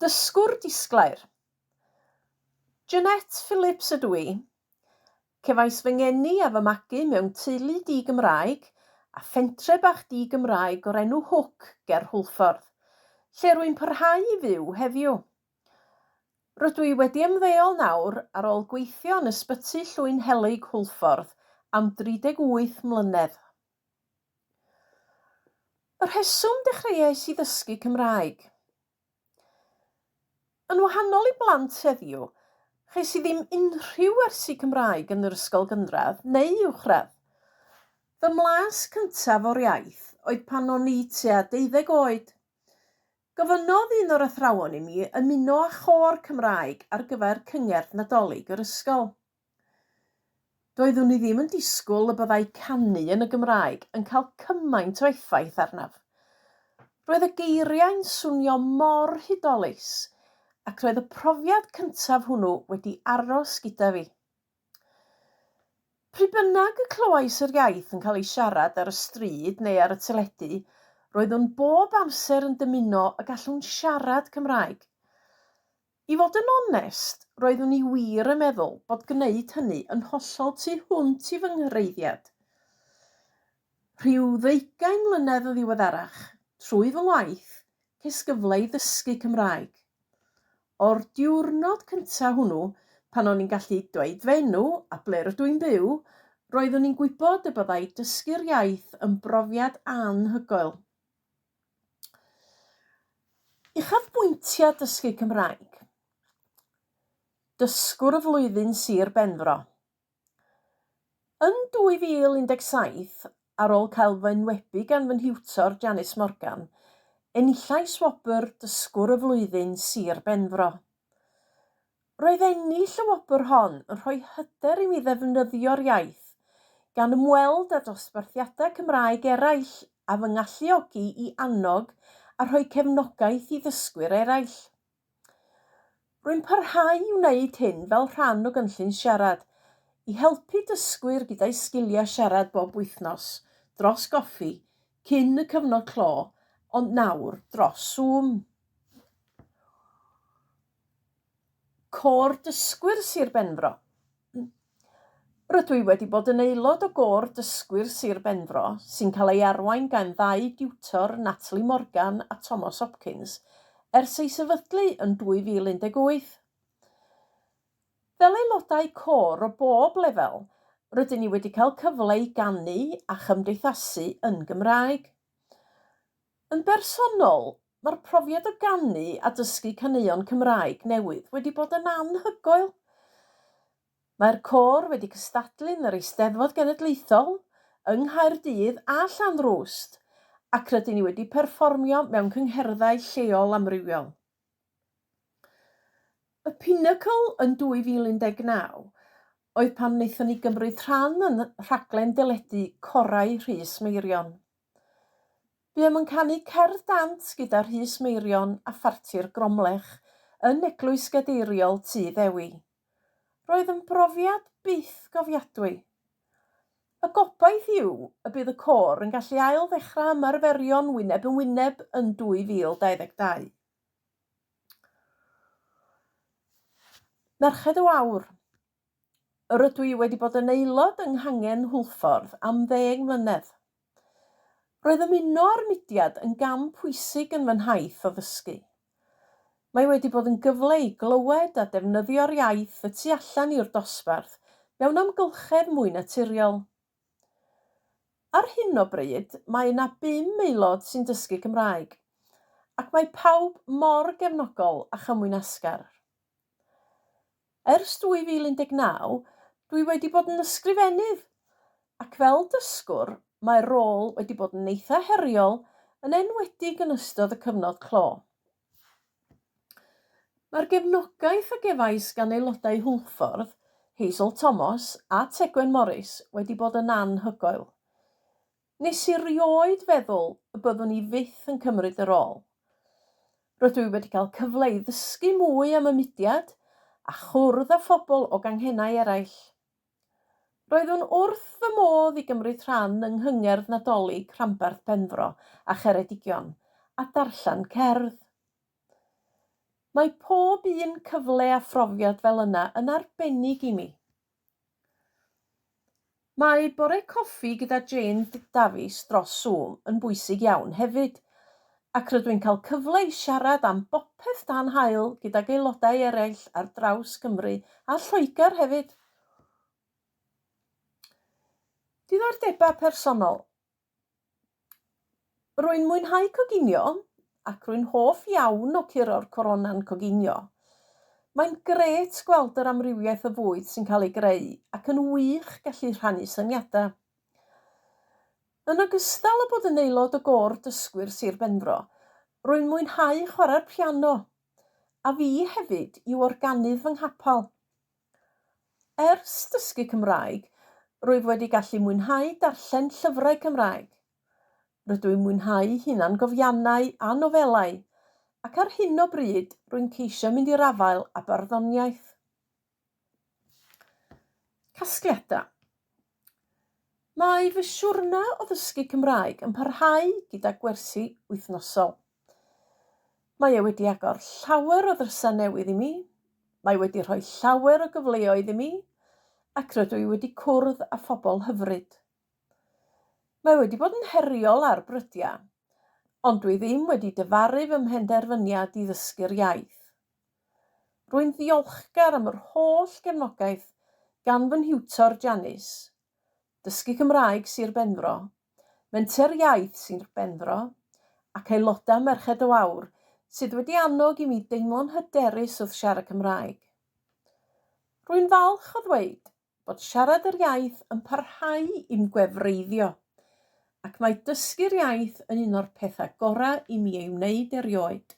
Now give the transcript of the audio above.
Dysgwr disglair. Jeanette Phillips ydw i. Cefais fy ngeni a fy magu mewn teulu di-Gymraeg a phentre bach di-Gymraeg o'r enw Hook ger Hwlffordd, lle rwy'n parhau i fyw heddiw. Rydw i wedi ymddeol nawr ar ôl gweithio yn Ysbyty Llwyn Helyg Hwlffordd am 38 mlynedd. Y rheswm dechreuais i ddysgu Cymraeg. Yn wahanol i blant heddiw, ches i ddim unrhyw wersi Cymraeg yn yr ysgol gynradd neu uwchradd. Fy mlas cyntaf o'r iaith oedd pan o'n i tua deuddeg oed. Gofynnodd un o'r athrawon i mi ymuno â chôr Cymraeg ar gyfer cyngerdd Nadolig yr ysgol. Doeddwn i ddim yn disgwyl y byddai canu yn y Gymraeg yn cael cymaint o effaith arnaf. Roedd y geiriau'n swnio mor hudolus ac roedd y profiad cyntaf hwnnw wedi aros gyda fi. Pryd bynnag y clywais yr iaith yn cael ei siarad ar y stryd neu ar y teledu, roeddwn bob amser yn dymuno y gallwn siarad Cymraeg. I fod yn onest, roeddwn i wir yn meddwl bod gwneud hynny yn hollol tu hwnt i fy nghreiddiad. Rhyw ddeugain mlynedd yn ddiweddarach, trwy fy ngwaith, ces gyfle i ddysgu Cymraeg. O'r diwrnod cyntaf hwnnw, pan o'n i'n gallu dweud fy enw a ble rydw i'n byw, roeddwn i'n gwybod y byddai dysgu'r iaith yn brofiad anhygoel. Uchafbwyntiau dysgu Cymraeg Dysgwr y Flwyddyn Sir Benfro Yn 2017, ar ôl cael fy enwebu gan fy nhiwtor Janice Morgan, enillais wobr Dysgwr y Flwyddyn Sir Benfro. Roedd ennill y wobr hon yn rhoi hyder i mi ddefnyddio'r iaith, gan ymweld â dosbarthiadau Cymraeg eraill a fy ngalluogi i annog a rhoi cefnogaeth i ddysgwyr eraill. Rwy'n parhau i wneud hyn fel rhan o gynllun siarad, i helpu dysgwyr gyda'u sgiliau siarad bob wythnos, dros goffi, cyn y cyfnod clo, ond nawr dros Zoom. Côr Dysgwyr Sir Benfro. Rydw i wedi bod yn aelod o Gôr Dysgwyr Sir Benfro sy'n cael ei arwain gan ddau diwtor, Natalie Morgan a Tomos Hopkins, ers ei sefydlu yn 2018. Fel aelodau côr o bob lefel, rydyn ni wedi cael cyfle i ganu a chymdeithasu yn Gymraeg. Yn bersonol, Mae'r profiad o ganu a dysgu caneuon Cymraeg newydd wedi bod yn anhygoel. Mae'r côr wedi cystadlu yn yr Eisteddfod Genedlaethol, yng Nghaerdydd a Llanrwst, ac rydyn ni wedi perfformio mewn cyngherddau lleol amrywiol. Y pinacl yn 2019 oedd pan wnaethon ni gymryd rhan yn rhaglen deledu Corau Rhys Meirion. Buom yn canu cerdd dant gyda Rhys Meirion a Pharti'r Gromlech yn Eglwys Gadeiriol Tŷ Ddewi. Roedd yn brofiad byth gofiadwy. Y gobaith yw y bydd y côr yn gallu ail ddechrau ymarferion wyneb yn wyneb yn 2022. Merched o Awr. Rydw i wedi bod yn aelod yng Nghangen Hwlffordd am ddeng mlynedd. Roedd ymuno â'r mudiad yn gam pwysig yn fy nhaith o ddysgu. Mae wedi bod yn gyfle i glywed a defnyddio'r iaith y tu allan i'r dosbarth mewn amgylchedd mwy naturiol. Ar hyn o bryd, mae yna bum aelod sy'n dysgu Cymraeg, ac mae pawb mor gefnogol a chymwynasgar. Ers 2019, dwi wedi bod yn ysgrifennydd, ac fel dysgwr, mae'r rôl wedi bod yn eitha' heriol, yn enwedig yn ystod y cyfnod clo. Mae'r gefnogaeth a gefais gan aelodau Hwlffordd, Hazel Tomos a Tegwen Morris wedi bod yn anhygoel. Nes i rioed feddwl y byddwn i fyth yn cymryd y rôl. Rydw i wedi cael cyfle i ddysgu mwy am y mudiad a chwrdd â phobl o ganghennau eraill. Roeddwn wrth fy modd i gymryd rhan yng Nghyngerdd Nadolig Rhanbarth Benfro a Cheredigion a darllen cerdd. Mae pob un cyfle a phrofiad fel yna yn arbennig i mi. Mae bore coffi gyda Jane Davies dros Zoom yn bwysig iawn hefyd, ac rydw i'n cael cyfle i siarad am bopeth dan haul gydag aelodau eraill ar draws Cymru a Lloegr hefyd. Diddordebau personol. Rwy'n mwynhau coginio, ac rwy'n hoff iawn o curo'r corona'n coginio. Mae'n grêt gweld yr amrywiaeth o fwyd sy'n cael ei greu ac yn wych gallu rhannu syniadau. Yn ogystal â bod yn aelod o Gôr Dysgwyr Sir Benfro, rwy'n mwynhau chwarae'r piano, a fi hefyd yw organydd fy nghapel. Ers dysgu Cymraeg, rwyf wedi gallu mwynhau darllen llyfrau Cymraeg. Rydw i'n mwynhau hunangofiannau a nofelau, ac ar hyn o bryd rwy'n ceisio mynd i'r afael â barddoniaeth. Casgliadau Mae fy siwrne o ddysgu Cymraeg yn parhau gyda gwersi wythnosol. Mae e wedi agor llawer o ddrysau newydd i mi, mae wedi rhoi llawer o gyfleoedd i mi, ac rydw i wedi cwrdd â phobl hyfryd. Mae wedi bod yn heriol ar brydiau, ond dwi ddim wedi dyfaru fy mhenderfyniad i ddysgu'r iaith. Rwy'n ddiolchgar am yr holl gefnogaeth gan fy nhiwtor Janice Dysgu Cymraeg Sir Benfro, Menter Iaith Sir Benfro, ac aelodau Merched o Aur sydd wedi annog i mi deimlo'n hyderus wrth siarad Cymraeg. Rwy'n falch o ddweud bod siarad yr iaith yn parhau i'm gwefreiddio, ac mae dysgu'r iaith yn un o'r pethau gorau i mi ei wneud erioed.